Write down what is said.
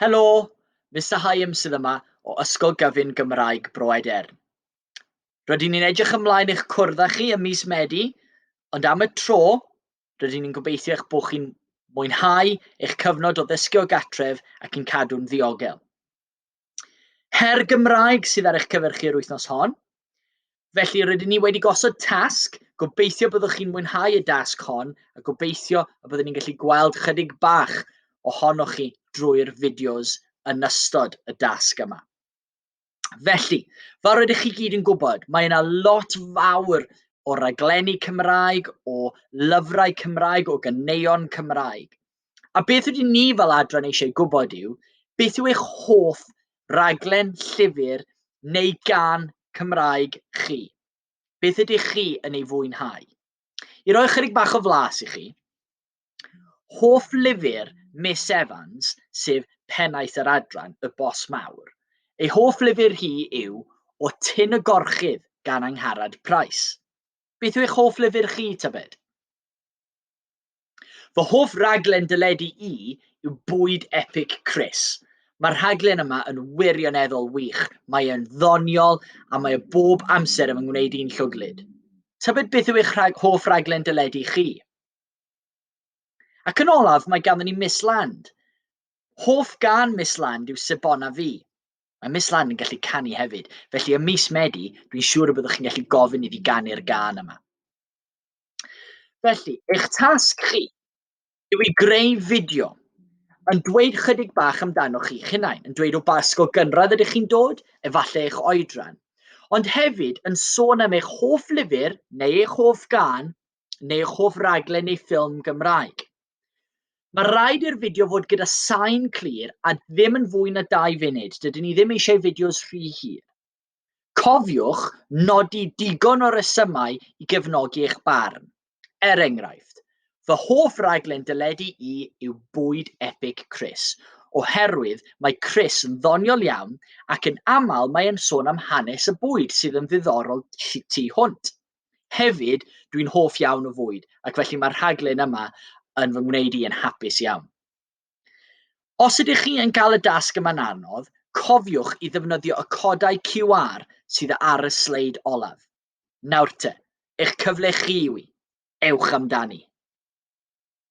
Helo! Mister Hyams sydd yma o Ysgol Gyfun Gymraeg Bro Edern. Rydyn ni'n edrych ymlaen i'ch cwrdd â chi ym mis Medi, ond am y tro, rydyn ni'n gobeithio eich bod chi'n mwynhau eich cyfnod o ddysgu o gatref ac yn cadw'n ddiogel. Her Gymraeg sydd ar eich cyfer chi yr wythnos hon. Felly rydyn ni wedi gosod tasg, gobeithio byddwch chi'n mwynhau y dasg hon a gobeithio y byddwn ni'n gallu gweld chydig bach ohonoch chi drwy'r fideos yn ystod y dasg yma. Felly, fel rydych chi gyd yn gwybod, mae yna lot fawr o raglenni Cymraeg, o lyfrau Cymraeg, o ganeuon Cymraeg. A beth ydyn ni fel adran eisiau gwybod yw, beth yw eich hoff raglen llyfr neu gan Cymraeg chi? Beth ydych chi yn ei fwynhau? I roi chyrig bach o flas i chi, hoff lyfr Miss Evans, sef pennaeth yr adran, Y Bos Mawr. Ei hoff lyfr hi yw O Tyn y Gorchudd gan Angharad Price. Beth yw eich hoff lyfr chi, tybed? Fy hoff raglen dyledu i yw Bwyd Epic Chris. Mae'r rhaglen yma yn wirioneddol wych, mae e'n ddoniol a mae e bob amser yn fy ngwneud i'n llwglyd. Tybed beth yw eich rhag hoff raglen dyledu chi? Ac yn olaf, mae ganddo ni Miss Land. Hoff gan Miss Land yw Sebona Fi. Mae Miss Land yn gallu canu hefyd, felly ym mis Medi, dwi'n siŵr y byddwch chi'n gallu gofyn iddi ganu'r gan yma. Felly, eich tasg chi yw i greu fideo yn dweud chydig bach amdano chi hunain, yn dweud o ba ysgol gynradd ydych chi'n dod, efallai eich oedran, ond hefyd yn sôn am eich hoff lyfr neu eich hoff gan neu eich hoff raglen neu ffilm Gymraeg. Mae rhaid i'r fideo fod gyda sain clir a ddim yn fwy na dau funud. Dydyn ni ddim eisiau fideos rhy hir. Cofiwch nodi digon o resymau i gefnogi eich barn. Er enghraifft, fy hoff raglen deledu i yw Bwyd Epig Chris, oherwydd mae Chris yn ddoniol iawn ac yn aml mae e'n sôn am hanes y bwyd sydd yn ddiddorol tu hwnt. Hefyd, dwi'n hoff iawn o fwyd ac felly mae'r rhaglen yma yn fy ngwneud i yn hapus iawn. Os ydych chi yn cael y dasg yma'n anodd, cofiwch i ddefnyddio y codau QR sydd ar y sleid olaf. Nawr te, eich cyfle chi yw i. Ewch amdani!